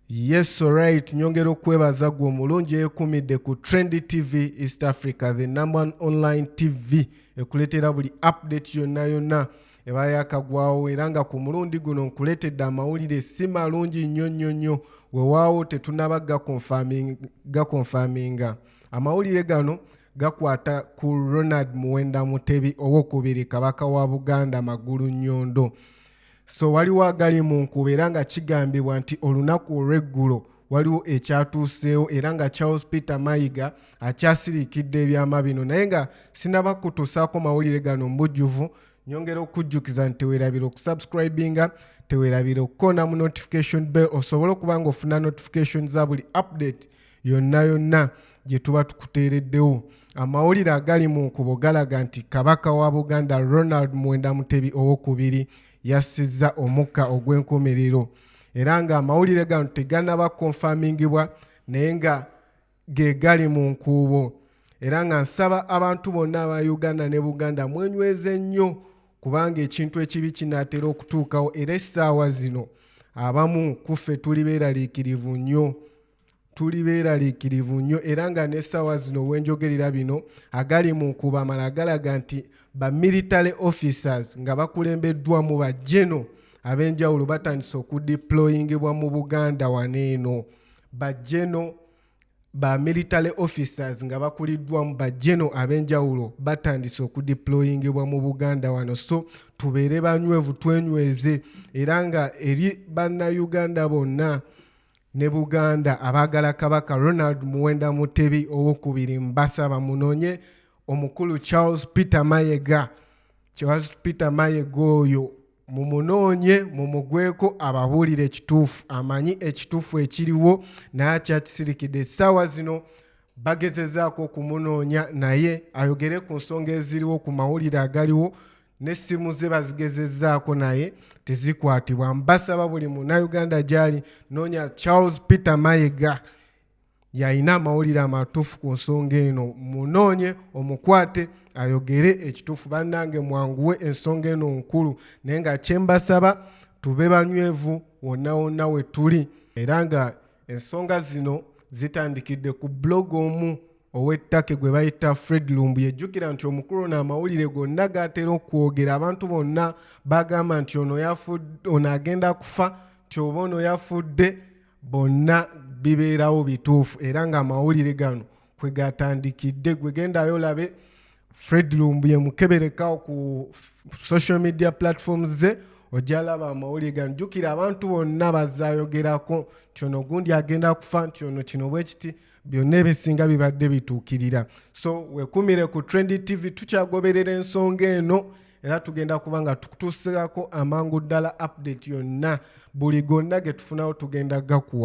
Yes alright, nyongera okwebaza gwe omulungi eyekumidde ku Trendy TV East Africa, the number one online TV ekuleetera buli update yonna yonna eba yakagwawo era nga ku mulundi guno nkuleetedde amawulire si malungi nnyo nnyo nnyo wewaawo tetunaba gakonfaminga amawulire gano gakwata ku Ronald Muwenda Mutebi owokubiri kabaka wa Buganda Magulu Nyondo so waliwo agali mu nkuba era nga kigambibwa nti olunaku olw'eggulo waliwo ekyatuuseewo era nga charles peter mayiga akyasiriikidde ebyama bino naye nga sinaba kutuusaako mawulire gano mu bujjuvu nyongera okujjukiza nti tewerabira okusubscribinga tewerabira okukona mu notification bell osobole okuba nga ofuna notification za buli update yonna yonna gye tuba tukuteereddewo amawulire agali mu nkubo galaga nti kabaka wa buganda ronald mwenda mutebi owokubiri yassizza omukka ogw'enkomerero era ng'amawulire gano teganaba konfamingibwa naye nga ge gali mu nkuubo era nga nsaba abantu bonna aba uganda ne buganda mwenyweze nnyo kubanga ekintu ekibi kinaatera okutuukawo era essaawa zino abamu kuffe tuli beeraliikirivu nnyo tuli beeraliikirivu nnyo era nga n'essaawa zino wenjogerera bino agali mu nkuba amala galaga nti ba military officers nga bakulembeddwa mu ba geno ab'enjawulo batandise okudiployingebwa mu buganda wano eno ba geno ba military officers nga bakuliddwa mu ba geno ab'enjawulo batandise okudiployingebwa mu buganda wano so tubeere banywevu twenyweze era nga eri bannayuganda bonna ne buganda abaagala kabaka ronald muwenda mutebi owokubiri mbasaba munonye omukulu charles peter mayega charles peter mayega oyo mumunoonye mumugweko ababuulire ekituufu amanyi ekituufu ekiriwo naye akyakisirikidde essaawa zino bagezezaako okumunoonya naye ayogere ku nsonga eziriwo ku mawulire agaliwo n'essimu ze bazigezezzaako naye tezikwatibwa mbasaba buli munauganda gyali noonya charles peter mayega yalina amawulire amatuufu ku nsonga eno munoonye omukwate ayogere ekituufu bannange mwanguwe ensonga eno nkulu naye nga kyembasaba tube banywevu wonna wonna we tuli era nga ensonga zino zitandikidde ku blog omu ow'ettake gwe bayita fred lumbu yejjukira nti omukulu ono amawulire gonna gaatera okwogera abantu bonna bagamba nti ono ono agenda kufa nti oba ono yafudde bonna bibeerawo bituufu era ng'amawulire gano kwe gatandikidde gwe gendayo olabe fred lumbu yemukeberekawo ku social media platforms ze ojalaba amawulire gano jjukira abantu bonna bazayogerako nti ono gundi agenda kufa nti ono kino bwekiti byonna ebisinga bibadde bituukirira so wekumire ku trendy tv tukyagoberera ensonga eno era tugenda kuba nga tukutuusirako amangu ddala update yonna buli gonna getufunawo tugenda gakuwa